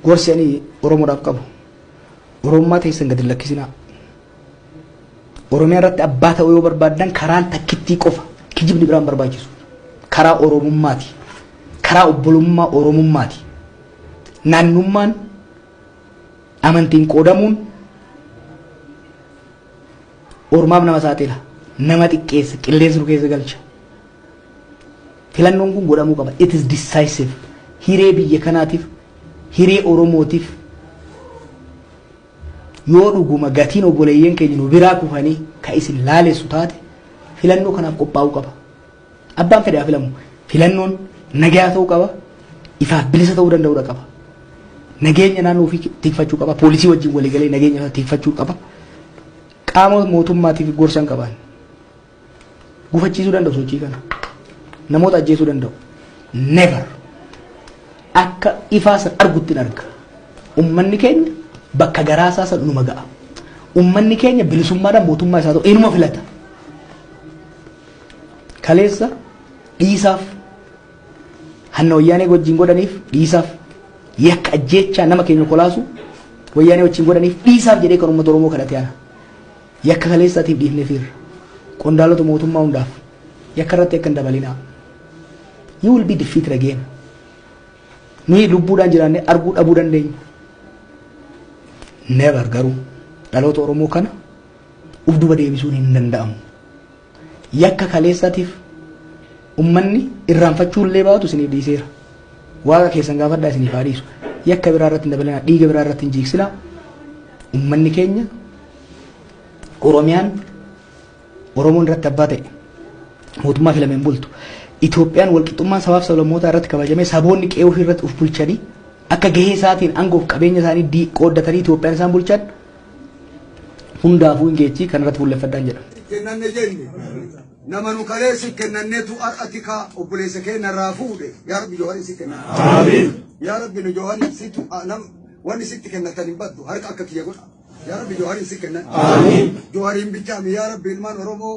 Gorsi ani Oromoodhaaf qabu Oromummaa teessan gadi hin lakkisinaa. Oromiyaa irratti abbaa ta'uu yoo barbaaddan karaan takkittii qofa kijibni biraan barbaachisu. Karaa Oromummaati. Karaa obbolummaa Oromummaati. Naannummaan amantiin qoodamuun Ormaaf nama saaxila, nama xiqqeessa, qilleensa nu keessa galcha. Filannoon kun godhamuu qaba. It is decisive. Hiree biyya kanaatiif, hiree Oromootiif yoo dhuguma gatiin obboleeyyan keenya nu biraa kufanii ka isin laalessu taate filannoo kanaaf qophaa'uu qaba. Abbaan fedhe haa filamu. Filannoon nagayaa ta'uu qaba. Ifaaf bilisa ta'uu danda'uudha qaba. Nageenya naannoo ofii tikfachuu qaba. Poolisii wajjin waliigalee nageenya isaa tikfachuu qaba. Qaama mootummaatiif gorsa hin qaban. Gufachiisuu danda'u sochii kana. Namoota ajjeesuu danda'u. Never. Akka ifaa san argutti hin arga. Ummanni keenya bakka garaa isaa san dhuma ga'a. Ummanni keenya bilisummaadhaan mootummaa isaa ta'u inuma filata. Kaleessa dhiisaaf hanna wayyaanee wajjin godhaniif dhiisaaf yakka ajjeechaa nama keenya kolaasu wayyaanee wajjin godhaniif dhiisaaf jedhee kan uummata Oromoo kadhate ana. Yakka kaleessaatiif dhiifnee fiirra. Qondaalota mootummaa hundaaf yakka irratti akka hin dabalinaa. You will be defeated again. Nuyi lubbuudhaan jiraannee arguu dhabuu dandeenya. Never garuu dhaloota Oromoo kana uf duba deebisuun hin danda'amu. Yakka kaleessatiif ummanni irraanfachuu illee baatu isiniif dhiiseera. Waaqa keessan gaafadhaa isiniif haa dhiisu. Yakka biraa irratti hin dabalinaa, dhiiga biraa irratti hin jiigsinaa. Ummanni keenya Oromiyaan Oromoon irratti abbaa ta'e mootummaa filameen bultu. Itoophiyaan walqixxummaan sabaaf sablammootaa irratti kabajamee saboonni qe'ee ofii irratti of bulchanii akka gahee isaatiin aangoof qabeenya isaanii dii- qooddatanii Itoophiyaan isaan bulchan hundaafuu hin geechii kan irratti fuulleffadhaan jedha. kennanne jenne nama nu kalee si kennannetu har'ati ka obboleessa keenya irraa fuudhe yaa rabbi jawhari si kenna yaa rabbi nu jawhari situ nam wanni sitti kennatan hin baddu harka akka kiyya godha yaa rabbi jawhari si kenna jawhariin bichaami yaa rabbi ilmaan oromoo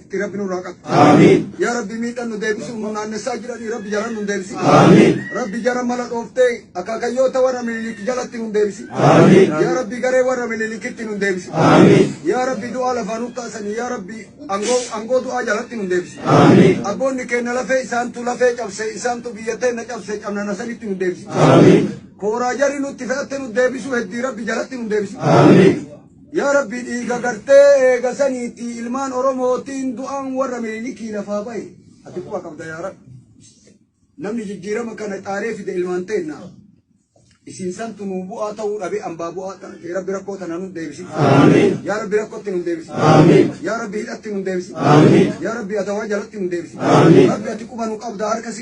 itti rabbi nurraa qabu. Aamiin. Yaa rabbi miidhan nu deebisu nu naannessaa jiranii rabbi jaran nu deebisi. Aamiin. Rabbi jara mala dhooftee akaakayyoota warra mililik jalatti nu deebisi. Aamiin. Yaa rabbi garee warra mililikitti nu deebisi. Aamiin. Yaa rabbi du'aa lafaa nu kaasanii yaa rabbi angoo angoo du'aa jalatti nu deebisi. Aamiin. Abboonni keenya lafee isaantu lafee cabse isaantu biyya teenna cabse cabnana sanitti nu deebisi. Aamiin. Kooraa jarri nutti fe'atte nu deebisu heddii rabbi jalatti nu deebisi. Aamiin. Yaa Rabbi dhiiga gartee eega saniitii ilmaan Oromootiin du'aan warra Minilikii lafaa bahe ati quba qabda yaa Rabbi. Namni jijjiirama kana xaaree fide ilmaan teenna. Isin santu nuu bu'aa ta'uu dhabe ambaa bu'aa ta'e Rabbi rakkoo tana nu deebisi. Yaa Rabbi rakkootti nu deebisi. Yaa Rabbi hidhatti nu deebisi. Yaa Rabbi adawaa jalatti nu deebisi. Rabbi ati quba nu qabda harka si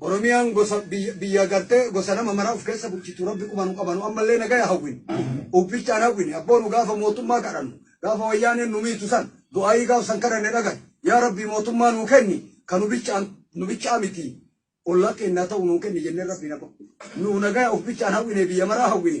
Oromiyaan gosa biyya biyya gartee gosa nama maraa of keessa bulchitu rabbi qubanu qabanu ammallee nagaya hawwin ubbichaan hawwin abboo nu gaafa mootummaa kadhannu gaafa wayyaaneen nu miitu san du'aayii gaaf san kadhanne dhagan yaa rabbi mootummaa nuu kenni ka nu bichaan nu bichaa miti ollaa keennaa ta'u nuu kenni jennee rabbi na nu nagaya of bichaan hawwine biyya maraa hawwine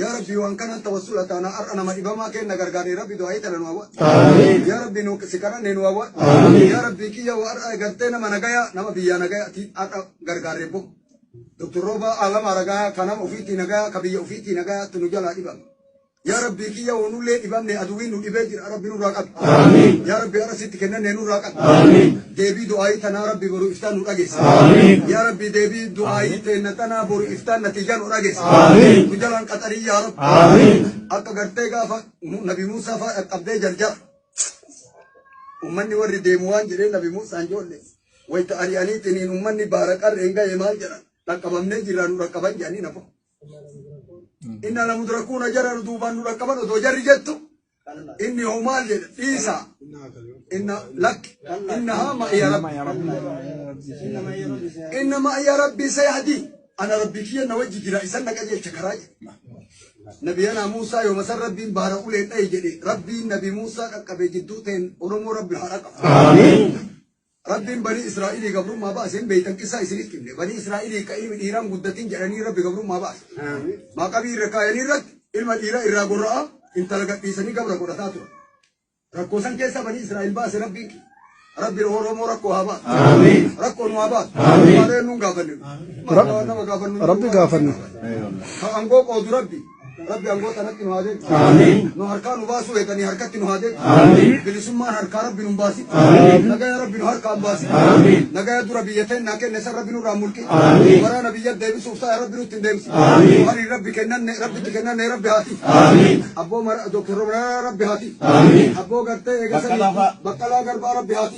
Yaa rabbii waan kanan tawassula taana har'a nama dhibamaa keenna gargaaree rabbi du'aa'ii tana nu hawwa. Aamiin. Yaa rabbii nu si kadhannee nu hawwa. Aamiin. Yaa rabbii kiyya waa har'a gartee nama nagayaa nama biyyaa nagayaa ti har'a gargaaree bo. Doktor Roobaa Aalamaa Ragayaa ka nama ofiitii nagayaa ka biyya ofiitii nagayaa tu nu jalaa dhibame. Yaa rabbii kiyya woonullee dhibamne aduwii nu dhibee jira rabbi nurraa qabi. Aamiin. Yaa rabbii har'a sitti kennannee nurraa qabi. Aamiin. Deebii du'aayii tanaa Rabbi boru iftaan nu dhageessi. Aamiin. Yaa Rabbi deebii du'aayii teenna tanaa boru iftaan natiijaa nu dhageessi. Aamiin. Nu jalaan qaxarii yaa Rabbi. Aamiin. Akka gartee gaafa Mu- Nabi Muusaa faa dhaqqabdee jarjara. Ummanni warri deemu waan jedhee Nabi Muusaan joolle. Wayita ari'aniitiniin ummanni baara qarreen ga'e maal jedhan? Dhaqqabamnee jirraa nu dhaqqaban jedhanii nafa. Inna lamudrakuuna jara duubaan nu dhaqqaban odoo jarri jettu. inni hoo maal jedhe dhiisa inna lakki innahaa ma'iya rabbi inna ma'iya rabbi sayahdi ana rabbi kiyya na wajji jira isan na qajeelcha karaa jedhe nabiyanaa muusaa yooma san rabbiin baara uleen dhaye jedhe rabbiin nabi muusaa qaqqabe jidduu ta'een oromoo rabbi haa dhaqabu Rabbiin banii Israa'ilii gabrummaa baase hin beeytan qissaa isinitti himne. Banii Israa'ilii ka ilmi dhiiraa hin guddatin jedhanii Rabbi gabrummaa baase. Maqabii irra kaayanii irratti ilma dhiiraa irraa gorra'aa intala gadhiisanii gabra godhataa turan. Rakkoo san keessa banii Israa'il baase Rabbiin kiyya. Rabbiin Oromoo rakkoo haa baatu. Rakkoo nu haa baatu. Maaloo eenyuun gaafanne? Maaloo nama gaafannu? Rabbi gaafanne. Ka angoo qoodu Rabbi. Rabbi angoota irratti nu haa deebisu. Amiin. Nu harkaa nu baasuu eeganii harkatti nu haa deebisu. Amiin. Bilisummaan harkaa Rabbi nu baasi. Amiin. Nagaya Rabbi nu harkaan baasi. Amiin. Nagaya dura biyya teennaa kenne san Rabbi nurraa mulqi. Amiin. Waraana biyya deebisuuf ta'a Rabbi nutti hin deemsi. Amiin. Waliin Rabbi kennanne Rabbitti kennanne Rabbi haati. Amiin. Abboo Dr. Rabbi haati. Amiin. Abboo gartee eegasanii. Baqqalaa Garbaa Rabbi haati.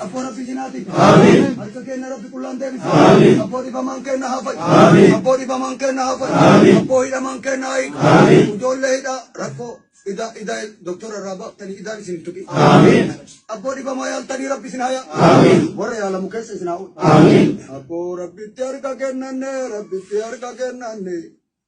Abboo rabbi jinaati. Harka keenya rabbi qullaan deebisa. Abboo dhibamaan keenya haa fayyu. Abboo dhibamaan keenya haa fayyu. Abboo hidhamaan keenya haa hiiku. Ijoollee hidhaa rakkoo idaa idaa doktora irraa baaftanii idaan isin hin tuqin. Abboo dhibamaa yaaltanii rabbi isin haa yaa. Warra yaalamu keessa isin haa oolu. Abboo rabbitti harka kennanne rabbitti harka kennanne.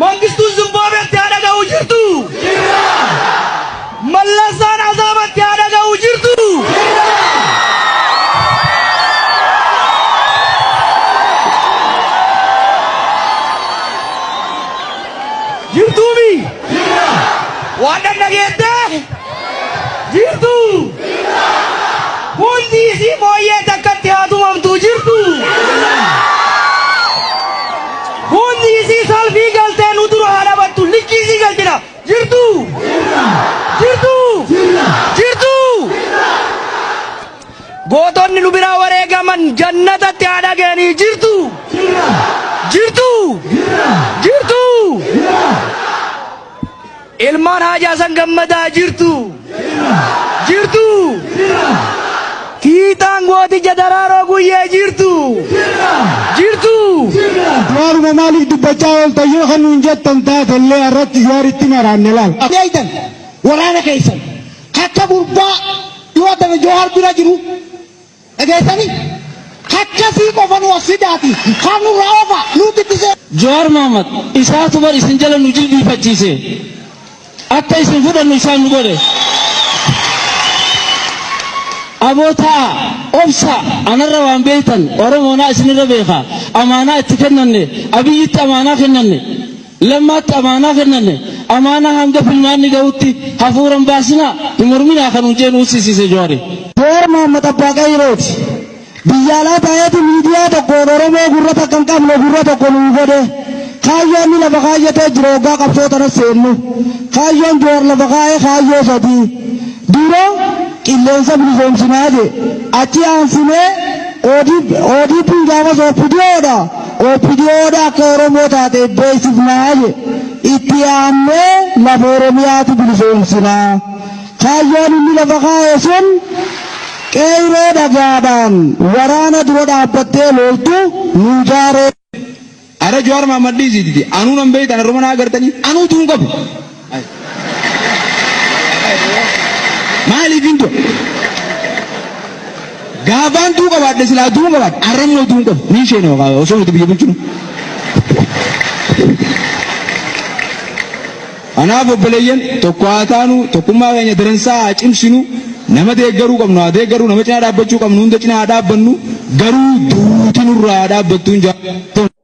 Mangistuun Zimbaabe itti haa dhaga'uu jirtu! Jirra! Mallasaan Azaaba itti haa dhaga'uu jirtu! Jirra! Jirtuumi! Jirra! Waan dhaggeette? Jirtu! Jirra! Hundi isii booyyee takkatti haa tumamtu jirtu! Jirra! Boonni isii salfii galtee nu dura haa dhabattu likkii isii galchina. Jirtuu? Jirtuu? Jirtuu? Gootonni nu biraa wareegaman jannatatti haa dhaga'anii. Jirtuu? Jirtuu? Jirtuu? Ilmaan Haji Hasan Gammadaa jirtuu? Jirtuu? Fiixaan Gooticha Daraaroo Guyyee jirtuu? Jirtuu? Waanuma maaliif dubbachaa ooltan yoo kan nuun jettan taatellee irratti Jawaaritti maraanne laal. Eeydan waraana keessan akka gurbaa dhiyoo tana Jawaar bira jiru Dhageessani? Hakkasii qofa nu as fidaati. Kaan nurraa ofa. Nuutti itti seena. Jawaar Mohammed isaatu bar isin jala nu jilbiifachiise. Akka isin fudhannu isaan nu godhe. Aboo taa'a, obsa, anarra waan beektan Oromoonaa isinirra beeka. Amaanaa itti kennanne, Abiyyitti amaanaa kennanne. Lammaatti amaanaa kennanne amaanaa hanga filmaanni gahutti hafuura hin baasinaa, hin morminaa kan nuun jee nu hussisiise Jawari. Jawar Mohammed Abbaa Qeeyrooti. Biyya alaa taa'eeti miidiyaa tokkoon Oromoo gurra takka hin qabne gurra tokko nuu godhe. Kaayyoo inni lafa kaayyatee jira hoggaa qabsoo tana seennu. Kaayyoon Jawar lafa kaa'e kaayyoo sadii. Dura qilleensa bilisoomsinaa jee. Achi aansinee ODPn gaafas OPDO dha. OPDOn akka Oromoo taate beeksifna jedhe. Itti aannee lafa Oromiyaatu bilisoomsina. Kaayyoon inni lafa kaa'e sun qeeyroo dhagaadhaan waraana dura dhaabbattee looltu nuu jaaree. Ara Jawar Mahammad dhiisi didi anuu nan beeytan arruma naa gartanii anuu tuun qabu. Maaliif hin du'a? Gaafaan du'uu qabaadhe silaa du'uu qabaadhe har'a immoo du'uu qabu. Ni isheen osoo nuti biyya bulchinu. Kanaaf obboleeyyan tokko haa taanu tokkummaa keenya daransaa haa cimsinu nama deeggaruu qabnu haa deeggaruu nama cinaa dhaabbachuu qabnu hunda cinaa haa dhaabbannu garuu duuti nurraa haa dhaabbattuun jaallatama.